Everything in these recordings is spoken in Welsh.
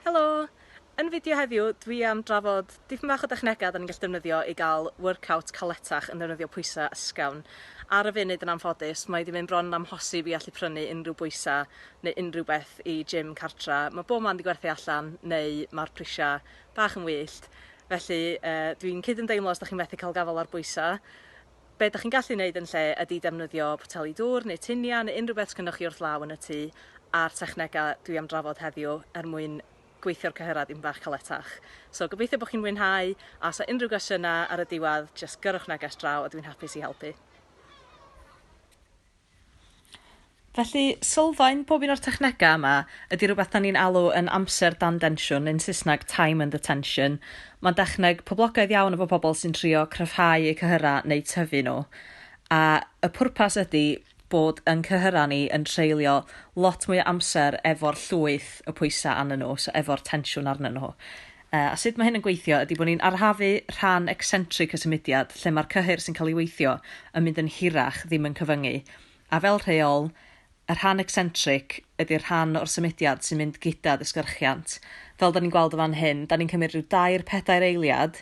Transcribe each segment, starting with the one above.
Helo! Yn fideo heddiw dwi am drafod dipyn bach o dechnegau 'da ni'n gallu defnyddio i gael workout caletach yn defnyddio pwysau ysgafn. Ar y funud yn anffodus mae 'di mynd bron yn amhosib i allu prynu unrhyw bwysau neu unrhyw beth i gym cartra, mae bob man 'di gwerthu allan neu mae'r prisiau bach yn wyllt felly yy dwi'n cyd-ymdeimlo os 'da chi methu cael gafael ar bwysau. Be' 'dach chi'n gallu neud yn lle ydi defnyddio poteli dŵr neu tinia neu unrhyw beth sgynnoch chi wrth law yn y tŷ a'r technega dwi am drafod heddiw er mwyn gweithio'r cyhyrau dipyn bach caletach. So gobeithio bo' chi'n mwynhau a os 'na unrhyw gwestiyna ar y diwadd jyst gyrrwch neges draw a dwi'n hapus i helpu. Felly, sylfaen pob un o'r technegau yma ydy rhywbeth dan ni'n alw yn amser dan densiwn, neu'n Saesneg time under tension. Mae'n dechneg poblogaidd iawn efo pobl sy'n trio cryfhau eu cyhyrau neu tyfu nhw. A y pwrpas ydy bod yn cyhyrau ni yn treulio lot mwy o amser efo'r llwyth y pwysau arnyn nhw, so efo'r tensiwn arnyn nhw. A sut mae hyn yn gweithio ydy bod ni'n arafu rhan eccentric y symudiad, lle mae'r cyhyr sy'n cael ei weithio yn mynd yn hirach, ddim yn cyfyngu. A fel rheol, y rhan eccentric ydy'r rhan o'r symudiad sy'n mynd gyda disgyrchiant. Fel 'da ni'n gweld yn fan hyn, 'da ni'n cymryd rhyw dair, pedair eiliad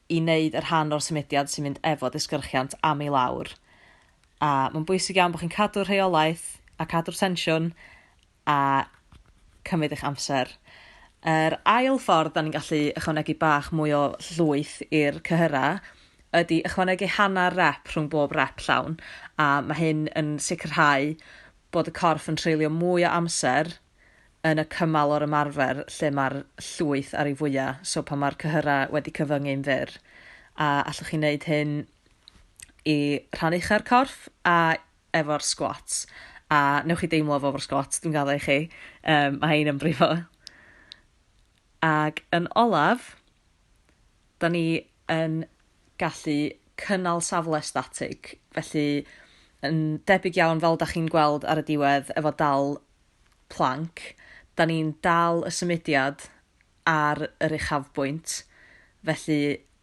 i wneud y rhan o'r symudiad sy'n mynd efo disgyrchiant am i lawr. A mae'n bwysig iawn bod chi'n cadw'r rheolaeth a cadw'r tensiwn a cymryd eich amser. Yr ail ffordd da ni'n gallu ychwanegu bach mwy o llwyth i'r cyhyra ydy ychwanegu hanner rep rhwng bob rep llawn a mae hyn yn sicrhau bod y corff yn treulio mwy o amser yn y cymal o'r ymarfer lle mae'r llwyth ar ei fwyaf, so pan mae'r cyhyra wedi cyfyngu'n fyr. A allwch chi wneud hyn i rhan uchau'r corff a efo'r squats a newch chi deimlo fo efo'r squats dwi'n gaddo i chi um, mae hein yn brifo ag yn olaf da ni yn gallu cynnal safle statig felly yn debyg iawn fel da chi'n gweld ar y diwedd efo dal planc da ni'n dal y symudiad ar yr uchafbwynt felly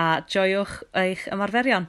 a joiwch eich ymarferion!